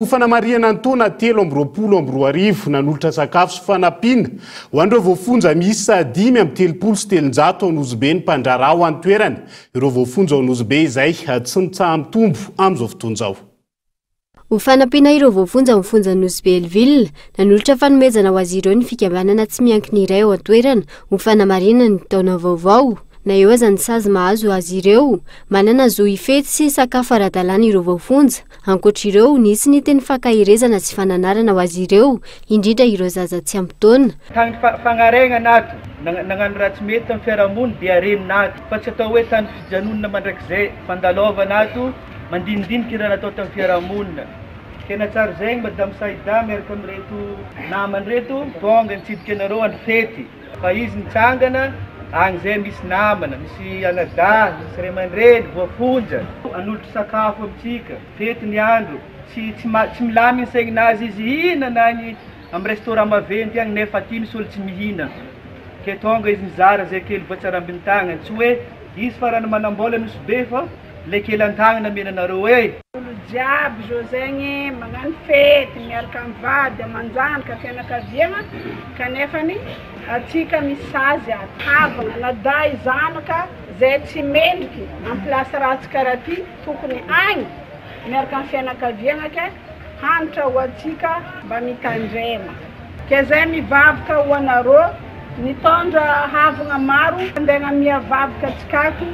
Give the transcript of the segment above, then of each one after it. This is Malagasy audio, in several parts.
Ho fanamarihana ny taona telo amby roapolo amby roa arivo, nanolotra sakafo sy fanampiana ho an'ireo voafonja miisa dimy amby telopolo sy telonjato ao Nosy-Be ny mpandraharaha ao an-toerana, ireo voafonja ao Nosy-Be izay tsy mitsaha-mitombo amin'izao fotoana izao. Ho fanampiana ireo voafonja ao amin'ny fonjan'i Nosy-Be-Helleville, nanolotra fanomezana ho azy ireo ny fikambanana tsy miankina iray ao an-toerana ho fanamarihana ny taona vaovao. Na eo aza ny sazy mahazo azy ireo, manana zo hifety sy hisakafo ara-dalàna ireo voafonja, Ankoatra ireo, nisy ny teny fankaherezana sy fananarana ho azy ireo, indrindra ireo zaza tsy ampy taona. Tany Fagnaregna nato nagnano raha tsy mety tam fiarahamony dia reny nato fa tsy atao hoe tany fijanonana mandrakizay Fandalova nato mandinidinika iraha natao tam fiarahamona tena tsara zegny madame Saida miaraka am reto namany reto tonga nitsidika anareo andro fety Fa izy mitsangana agny zay misy namana, misy anadahy, misy ray aman-dreny voafonja, hanolotra sakafo amintsika, fety ny andro, tsy tsy ma tsy milamigny ny saigninazy izy hihinana agny amy restaurant maventy agny nefa aty misy olo tsy mihina, ke tonga izy mizara zay kely voatsarambin'ny tagnany, tsy hoe izy farany manam-bola nosy be fa. lekelan-tagnana mena nareo e! Olo jiaby zao zegny magnano fety miaraka am vady amanjanaka fianakaviagna kanefany atsika misy sazy ato havagna na dahy zanaka zay tsy mendriky am place ratsy kara ty tokony agny miaraka am fianakaviagna ke hanitra ho atsika mba mitandrema ke zay mivavaka ho anarô Nitondra havogna maro handeha miavavaka antsika ato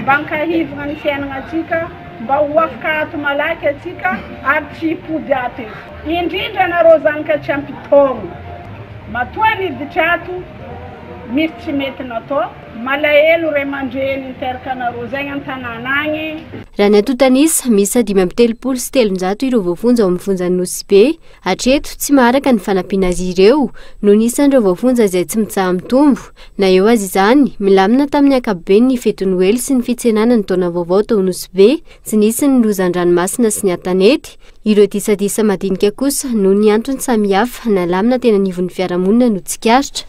mba hankahivogna ny fiainagnantsika, mba ho afaka ato malaky antsika ary tsy hipody ato eto. Indrindra anareo zanaka tsy ampy taogno, matoa niditra ato misy tsy mety natao, malahelo ray aman-dreny niteraka anareo zegny an-tanàna agny. Raha ny antontan'isa, miisa dimy amby telopolo sy telonjato ireo voafonja ao amin'ny fonjan'i Nosy Be, Hatreto, tsy maharaka ny fanampiana azy ireo noho ny isan'ireo voafonja izay tsy mitsaha-mitombo. Na eo aza izany, milamina tamin'ny ankapobeny ny fety Noely sy ny fitsenana ny taona vaovao tao Nosy Be, tsy nisy ny loza an-dranomasina sy ny an-tanety. Ireo disadisa madinika kosa noho ny antony samihafa nalamina teny anivon'ny fiarahamonina no tsikaritra.